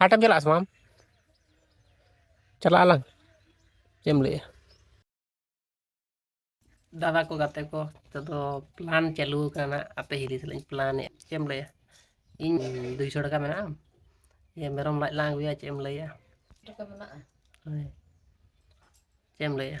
ᱦᱟᱴᱮᱢ ᱪᱟᱞᱟᱜᱼᱟ ᱥᱮ ᱵᱟᱝ ᱪᱟᱞᱟᱜ ᱟᱞᱟᱝ ᱪᱮᱫ ᱮᱢ ᱞᱟᱹᱭᱮᱜᱼᱟ ᱫᱟᱫᱟ ᱠᱚ ᱜᱟᱛᱮ ᱠᱚ ᱱᱤᱛᱚᱜ ᱫᱚ ᱯᱞᱟᱱ ᱪᱟᱹᱞᱩ ᱟᱠᱟᱱᱟ ᱟᱯᱮ ᱦᱤᱨᱤ ᱥᱟᱞᱟᱜ ᱤᱧ ᱯᱞᱟᱱᱮᱫ ᱪᱮᱫ ᱮᱢ ᱞᱟᱹᱭᱟ ᱤᱧ ᱫᱩᱭᱥᱚ ᱴᱟᱠᱟ ᱢᱮᱱᱟᱜᱼᱟ ᱡᱮ ᱢᱮᱨᱚᱢ ᱞᱟᱡ ᱞᱟᱝ ᱟᱹᱜᱩᱭᱟ ᱪᱮᱫ ᱮᱢ ᱞᱟᱹᱭᱟ ᱴᱟᱠᱟ ᱢᱮᱱᱟᱜᱼᱟ ᱦᱳᱭ ᱪᱮᱫ ᱮᱢ ᱞᱟᱹᱭᱟ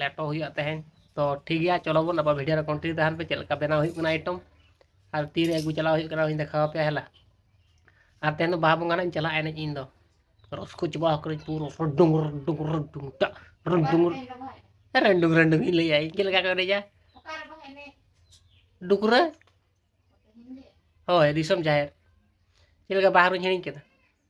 ᱞᱮᱴᱚ ᱦᱩᱭᱩᱜᱼᱟ ᱛᱮᱦᱮᱧ ᱛᱚ ᱴᱷᱤᱠ ᱜᱮᱭᱟ ᱪᱚᱞᱚ ᱵᱚᱱ ᱟᱵᱟᱨ ᱵᱷᱤᱰᱤᱭᱳ ᱨᱮ ᱠᱚᱱᱴᱤᱱᱤᱭᱩ ᱛᱟᱦᱮᱱ ᱯᱮ ᱪᱮᱫ ᱞᱮᱠᱟ ᱵᱮᱱᱟᱣ ᱦᱩᱭᱩᱜ ᱠᱟᱱᱟ ᱟᱭᱴᱚᱢ ᱟᱨ ᱛᱤᱨᱮ ᱟᱹᱜᱩ ᱪᱟᱞᱟᱣ ᱦᱩᱭᱩᱜ ᱠᱟᱱᱟ ᱚᱱᱟᱧ ᱫᱮᱠᱷᱟᱣ ᱟᱯᱮᱭᱟ ᱦᱮᱞᱟ ᱟᱨ ᱛᱮᱦᱮᱧ ᱫᱚ ᱵᱟᱦᱟ ᱵᱚᱸᱜᱟ ᱱᱟᱜ ᱤᱧ ᱪᱟᱞᱟᱜᱼᱟ ᱮᱱᱮᱡ ᱤᱧ ᱫᱚ ᱨᱚᱥᱠᱚ ᱪᱟᱵᱟ ᱟᱠᱟᱱᱟᱹᱧ ᱯᱩᱨᱟᱹ ᱨᱚᱰᱚᱝ ᱨᱚᱰᱚᱝ ᱨᱚᱰᱚᱝ ᱴᱟᱜ ᱨᱚᱰᱚᱝ ᱨᱚᱰᱚᱝ ᱨᱚᱰᱚᱝ ᱤᱧ ᱞᱟᱹᱭᱟ ᱤᱧ ᱪᱮᱫ ᱞᱮᱠᱟ ᱠᱚ ᱮᱱᱮᱡᱟ ᱰᱩᱠᱨᱟᱹ ᱦᱳᱭ ᱫᱤᱥᱚᱢ ᱡᱟᱦᱮᱨ ᱪᱮᱫ ᱞᱮᱠᱟ ᱵᱟᱦᱟ ᱨᱩᱧ ᱦᱤᱲᱤᱧ ᱠᱮᱫᱟ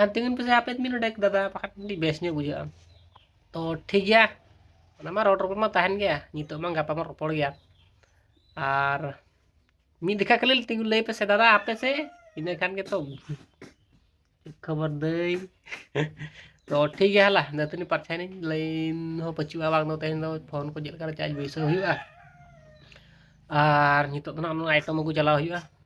ᱟᱨ ᱛᱤᱸᱜᱩᱱ ᱯᱮᱥᱮ ᱦᱟᱯᱮ ᱢᱤᱱᱤᱴ ᱰᱮᱠ ᱫᱟᱫᱟ ᱵᱟᱠᱷᱟᱱ ᱟᱹᱰᱤ ᱵᱮᱥ ᱧᱚᱜ ᱵᱩᱡᱷᱟᱹᱜᱼᱟ ᱛᱚ ᱴᱷᱤᱠ ᱜᱮᱭᱟ ᱚᱱᱟ ᱢᱟ ᱨᱚᱲ ᱨᱚᱯᱚᱲ ᱢᱟ ᱛᱟᱦᱮᱱ ᱜᱮᱭᱟ ᱱᱤᱛᱚᱜ ᱢᱟ ᱜᱟᱯᱟ ᱢᱟ ᱨᱚᱯᱚᱲ ᱜᱮᱭᱟ ᱟᱨ ᱢᱤᱫ ᱫᱮᱠᱷᱟ ᱠᱷᱟᱹᱞᱤ ᱛᱤᱸᱜᱩ ᱞᱟᱹᱭ ᱯᱮᱥᱮ ᱫᱟᱫᱟ ᱦᱟᱯᱮ ᱥᱮ ᱤᱱᱟᱹ ᱠᱷᱟᱱ ᱜᱮᱛᱚ ᱠᱷᱚᱵᱚᱨ ᱫᱟᱹᱧ ᱛᱚ ᱴᱷᱤᱠ ᱜᱮᱭᱟ ᱦᱟᱞᱟ ᱫᱟᱹᱛᱟᱹᱱᱤ ᱯᱟᱨᱪᱟᱭᱮᱱᱟᱹᱧ ᱞᱟᱹᱭᱤᱱ ᱦᱚᱸ ᱯᱟᱹᱪᱩᱜᱼᱟ ᱵᱟᱝ ᱫᱚ ᱛᱮᱦᱮᱧ ᱫᱚ ᱯᱷᱳᱱ ᱠᱚ ᱪᱮᱫ ᱞᱮᱠᱟ ᱪᱟᱨᱡᱽ ᱵᱟᱹᱭᱥᱟᱹᱣ ᱦᱩᱭᱩᱜᱼᱟ ᱟᱨ ᱱᱤᱛᱚᱜ ᱫᱚ ᱱᱟᱜ ᱚᱱᱟ ᱟᱭᱴᱮᱢ ᱟᱹᱜᱩ ᱪᱟᱞᱟᱣ ᱦᱩᱭᱩᱜᱼᱟ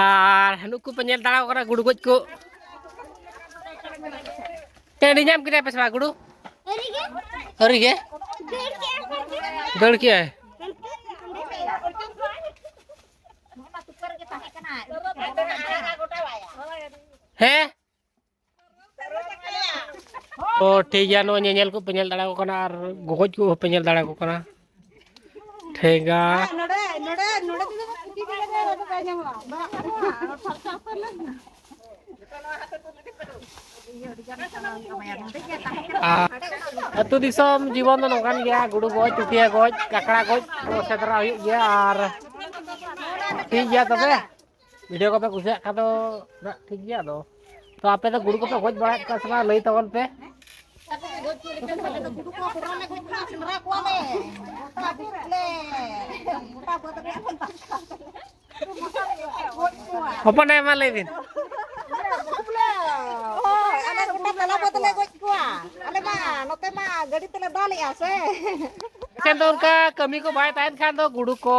ᱟᱨ ᱱᱩᱠᱩ ᱯᱮ ᱧᱮᱞ ᱫᱟᱲᱟᱣ ᱠᱟᱱᱟ ᱜᱩᱰᱩ ᱜᱚᱡ ᱠᱚ ᱴᱟᱺᱰᱤ ᱧᱟᱢ ᱠᱮᱫᱟ ᱯᱮ ᱥᱮ ᱵᱟᱝ ᱜᱩᱰᱩ ᱟᱹᱣᱨᱤ ᱜᱮ ᱫᱟᱹᱲ ᱠᱮᱜᱼᱟᱭ ᱦᱮᱸ ᱛᱚ ᱴᱷᱤᱠ ᱜᱮᱭᱟ ᱱᱚᱜᱼᱚᱭ ᱧᱮᱧᱮᱞ ᱠᱚᱯᱮ ᱧᱮᱞ ᱫᱟᱲᱮᱭᱟᱠᱚ ᱠᱟᱱᱟ ᱟᱨ ᱜᱚᱜᱚᱡ ᱠᱚ ᱦᱚᱸᱯᱮ ᱧᱮᱞ ᱫᱟᱲᱮᱭᱟᱠᱚ ᱠᱟᱱᱟ ᱴᱷᱮᱸᱜᱟ ᱟᱨ ᱟᱹᱛᱩ ᱫᱤᱥᱚᱢ ᱡᱤᱵᱚᱱ ᱫᱚ ᱱᱚᱝᱠᱟᱱ ᱜᱮᱭᱟ ᱜᱩᱰᱩ ᱜᱚᱡ ᱪᱩᱴᱭᱟ ᱜᱚᱡ ᱠᱟᱠᱲᱟ ᱜᱚᱡ ᱠᱚ ᱥᱮᱸᱫᱽᱨᱟ ᱦᱩᱭᱩᱜ ᱜᱮᱭᱟ ᱟᱨ ᱴᱷᱤᱠ ᱜᱮᱭᱟ ᱛᱚᱵᱮ ᱵᱷᱤᱰᱭᱳ ᱠᱚᱯᱮ ᱠᱩᱥᱤᱭᱟᱜ ᱠᱷᱟᱱ ᱫᱚ ᱴᱷᱤᱠ ᱜᱮᱭᱟ ᱟᱫᱚ ᱛᱚ ᱟᱯᱮ ᱫᱚ ᱜᱩᱰᱩ ᱠᱚᱯᱮ ᱜᱚᱡ ᱵᱟᱲᱟᱭᱮᱫ ᱠᱚᱣᱟ ᱥᱮ ᱵᱟᱝ ᱞᱟᱹᱭ ᱛᱟᱵᱚᱱ ᱯᱮ ᱦᱚᱯᱚᱱ ᱟᱭᱳ ᱢᱟ ᱞᱟᱹᱭ ᱵᱤᱱ ᱪᱮᱫ ᱫᱚᱨᱠᱟᱨ ᱠᱟᱹᱢᱤ ᱠᱚ ᱵᱟᱭ ᱛᱟᱦᱮᱱ ᱠᱷᱟᱱ ᱫᱚ ᱜᱩᱰᱩ ᱠᱚ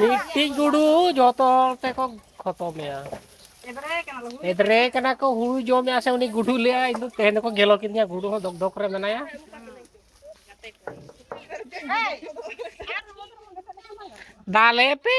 ᱢᱤᱫᱴᱤᱡ ᱜᱩᱰᱩ ᱡᱚᱛᱚ ᱦᱚᱲ ᱛᱮᱠᱚ ᱠᱷᱚᱛᱚᱢᱮᱭᱟ ᱮᱫᱨᱮ ᱠᱟᱱᱟ ᱠᱚ ᱦᱩᱲᱩ ᱡᱚᱢᱮᱭᱟ ᱥᱮ ᱩᱱᱤ ᱜᱩᱰᱩ ᱞᱟᱹᱭᱟ ᱤᱧ ᱫᱚ ᱛᱮᱦᱮᱧ ᱫᱚᱠᱚ ᱜᱮᱞᱚ ᱠᱤᱫᱤᱧᱟ ᱜᱩᱰᱩ ᱦᱚᱸ ᱫᱚᱠ ᱫᱚᱠ ᱨᱮ ᱢᱮᱱᱟᱭᱟ ᱫᱟᱞᱮ ᱯᱮ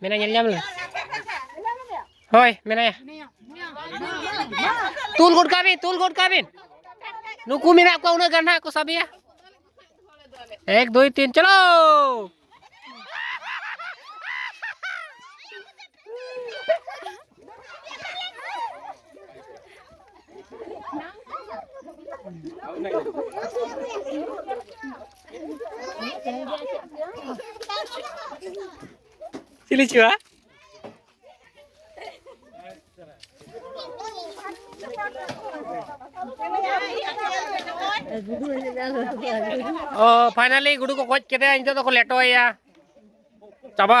ᱢᱮᱱᱟᱭ ᱧᱮᱞ ᱧᱟᱢ ᱞᱮᱱᱟ ᱦᱳᱭ ᱢᱮᱱᱟᱭᱟ ᱛᱩᱞ ᱜᱚᱫ ᱠᱟᱜ ᱵᱤᱱ ᱛᱩᱞ ᱜᱚᱫ ᱠᱟᱜ ᱵᱤᱱ ᱱᱩᱠᱩ ᱢᱮᱱᱟᱜ ᱠᱚᱣᱟ ᱩᱱᱟᱹᱜ ᱜᱟᱱ ᱦᱟᱸᱜ ᱠᱚ ᱥᱟᱵᱮᱭᱟ ᱮᱠ ᱫᱩᱭ ᱛᱤᱱ ᱪᱚᱞᱚ ᱪᱤᱞᱤ ᱪᱩᱣᱟ ᱚ ᱯᱷᱟᱭᱱᱟᱞᱤ ᱜᱩᱰᱩ ᱠᱚ ᱜᱚᱡ ᱠᱮᱫᱮᱭᱟ ᱱᱤᱛᱚᱜ ᱫᱚᱠᱚ ᱞᱮᱴᱚᱭᱮᱭᱟ ᱪᱟᱵᱟ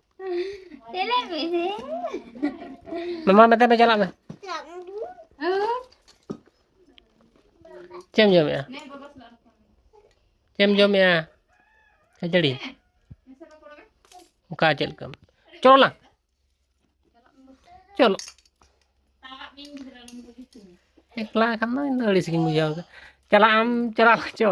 ᱪᱮᱞᱮ ᱢᱮᱥᱮ ᱢᱟᱢᱟ ᱢᱮᱛᱟᱭ ᱢᱮ ᱪᱟᱞᱟᱜ ᱢᱮ ᱪᱮᱫ ᱮᱢ ᱡᱚᱢᱮᱜᱼᱟ ᱪᱮᱫ ᱮᱢ ᱡᱚᱢᱮᱜᱼᱟ ᱠᱷᱟᱹᱡᱟᱹᱲᱤ ᱚᱠᱟ ᱪᱮᱫ ᱞᱮᱠᱟᱢ ᱪᱚᱞᱚ ᱞᱟᱝ ᱪᱚᱞᱚ ᱮᱠᱞᱟ ᱠᱷᱟᱱ ᱫᱚ ᱤᱧ ᱫᱚ ᱟᱹᱲᱤᱥ ᱜᱤᱧ ᱵᱩᱡᱷᱟᱹᱣ ᱪᱟᱞᱟᱜ ᱟᱢ ᱪᱟᱞᱟᱜ ᱪᱚ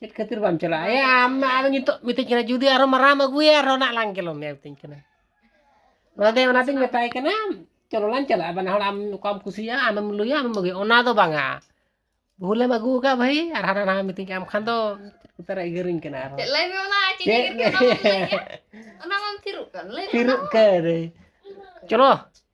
ᱪᱮᱫ ᱠᱷᱟᱹᱛᱤᱨ ᱵᱟᱢ ᱪᱟᱞᱟᱜᱼᱟ ᱮ ᱟᱢ ᱟᱫᱚ ᱱᱤᱛᱚᱜ ᱢᱤᱛᱟᱹᱧ ᱠᱟᱱᱟ ᱡᱩᱫᱤ ᱟᱨᱦᱚᱸ ᱢᱟᱨᱟᱢ ᱟᱹᱜᱩᱭᱟ ᱟᱨᱦᱚᱸ ᱱᱟᱜ ᱞᱟᱝ ᱜᱮᱞᱚ ᱢᱮᱭᱟ ᱢᱤᱛᱟᱹᱧ ᱠᱟᱱᱟ ᱚᱱᱟᱛᱮ ᱚᱱᱟᱛᱮᱧ ᱢᱮᱛᱟᱭ ᱠᱟᱱᱟ ᱪᱚᱞᱚ ᱞᱟᱝ ᱪᱟᱞᱟᱜᱼᱟ ᱵᱟᱱᱟ ᱦᱚᱲ ᱟᱢ ᱚᱠᱟᱢ ᱠᱩᱥᱤᱭᱟᱜᱼᱟ ᱟᱢᱮᱢ ᱞᱩᱭᱟ ᱟᱢᱮᱢ ᱟᱹᱜᱩᱭᱟ ᱚᱱᱟ ᱫᱚ ᱵᱟᱝᱟ ᱵᱷᱩᱞᱮᱢ ᱟᱹᱜᱩ ᱟᱠᱟᱫ ᱵᱷᱟᱹᱭ ᱟᱨ ᱦᱟᱱᱟ ᱱᱟᱣᱟ ᱢᱤᱛᱟᱹᱧ ᱠᱟᱱᱟ ᱟᱢ ᱠᱷᱟᱱ ᱫᱚ ᱩᱛᱟᱹᱨ ᱮᱜᱮᱨᱤᱧ ᱠᱟᱱᱟ ᱟᱨᱦᱚᱸ ᱞᱟᱹᱭ ᱢᱮ ᱚᱱᱟ ᱪᱮᱫ ᱮᱜᱮᱨ ᱠᱮᱫ ᱚᱱᱟ ᱵᱟᱢ ᱞᱟᱹᱭ ᱠᱮᱫ ᱚᱱᱟ ᱵᱟᱢ ᱛᱷᱤᱨᱚᱜ ᱠᱟᱱ ᱞᱟᱹᱭ ᱢᱮ ᱛᱷᱤᱨᱚᱜ ᱠᱟᱱ ᱪᱚᱞᱚ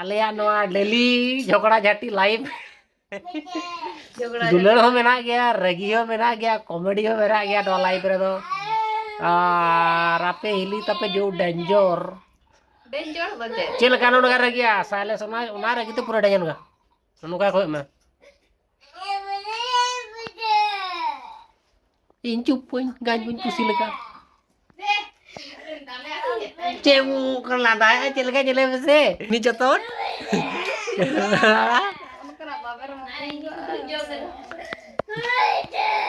ᱟᱞᱮᱭᱟᱜ ᱱᱚᱣᱟ ᱰᱮᱞᱤ ᱡᱷᱚᱜᱽᱲᱟ ᱡᱷᱟᱹᱴᱤ ᱞᱟᱭᱤᱵᱷ ᱫᱩᱞᱟᱹᱲ ᱦᱚᱸ ᱢᱮᱱᱟᱜ ᱜᱮᱭᱟ ᱨᱟᱹᱜᱤ ᱦᱚᱸ ᱢᱮᱱᱟᱜ ᱜᱮᱭᱟ ᱠᱚᱢᱮᱰᱤ ᱦᱚᱸ ᱢᱮᱱᱟᱜ ᱜᱮᱭᱟ ᱱᱚᱣᱟ ᱞᱟᱭᱤᱵᱷ ᱨᱮᱫᱚ ᱟᱨ ᱟᱯᱮ ᱦᱤᱞᱤ ᱛᱟᱯᱮ ᱡᱳ ᱰᱮᱧᱡᱚᱨ ᱪᱮᱫ ᱞᱮᱠᱟ ᱱᱚᱰᱮ ᱨᱟᱹᱜᱤᱭᱟ ᱥᱟᱭᱞᱮᱥ ᱚᱱᱟ ᱚᱱᱟ ᱨᱟᱹᱜᱤ ᱛᱮ ᱯᱩᱨᱟᱹ ᱰᱮᱧᱡᱚᱨ ᱱᱚᱝᱠᱟ ᱠᱚ ᱮᱢᱟ ᱤᱧ ᱪᱩᱯ ᱵᱟᱹᱧ ᱜᱟᱡ ᱵᱟᱹᱧ ᱠᱩᱥᱤ ᱞᱮᱠᱟ ᱪᱮᱫ ᱠᱟᱱᱟ ᱫᱟᱭᱟ ᱪᱮᱫ ᱞᱮᱠᱟ ᱧᱮᱞᱮ ᱢᱮᱥᱮ ᱩᱱᱤ ᱡᱚᱛᱚᱱ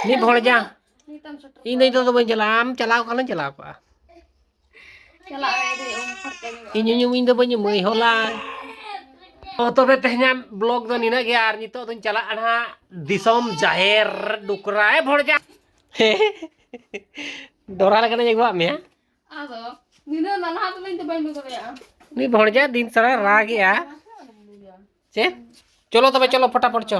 ᱢᱤᱫ ᱦᱚᱲ ᱡᱟ ᱤᱧ ᱫᱚ ᱱᱤᱛᱚᱜ ᱫᱚ ᱵᱟᱹᱧ ᱪᱟᱞᱟᱜᱼᱟ ᱟᱢ ᱪᱟᱞᱟᱣ ᱠᱷᱟᱱᱮᱢ ᱪᱟᱞᱟᱣ ᱠᱚᱜᱼᱟ ᱤᱧ ᱧᱩᱢ ᱤᱧ ᱫᱚ ᱵᱟᱹᱧ ᱧᱩᱢᱟᱹᱭ ᱦᱚᱞᱟ ᱚ ᱛᱚᱵᱮ ᱛᱮᱦᱮᱧᱟᱜ ᱵᱞᱚᱜ ᱫᱚ ᱱᱤᱱᱟᱹᱜ ᱜᱮ ᱟᱨ ᱱᱤᱛᱚᱜ ᱫᱚᱧ ᱪᱟᱞᱟᱜᱼᱟ ᱱᱟᱦᱟᱜ ᱫᱤᱥᱚᱢ ᱡᱟᱦᱮᱨ ᱰᱩᱠᱨᱟ ᱮ ᱵᱷᱚᱲᱡᱟ ᱰᱚᱨᱟ ᱞᱮᱠᱟᱱᱟᱧ ᱟᱹᱜᱩᱣᱟᱜ ᱢᱮᱭᱟ ᱟᱫᱚ ᱱᱤᱱᱟᱹᱜ ᱱᱟᱞᱦᱟ ᱫᱚ ᱤᱧ ᱫᱚ ᱵᱟᱹᱧ ᱵᱩᱡᱷᱟᱹᱣ ᱫᱟᱲᱮᱭᱟᱜᱼᱟ ᱩᱱᱤ ᱵᱷᱚᱲᱡᱟ ᱫᱤᱱ ᱥᱟᱨᱟ ᱨᱟᱜᱮᱜᱼᱟ ᱪᱮᱫ ᱪᱚᱞᱚ ᱛᱚᱵᱮ ᱪᱚᱞᱚ ᱯᱷᱚᱴᱟᱯᱷᱚᱴ ᱪᱚ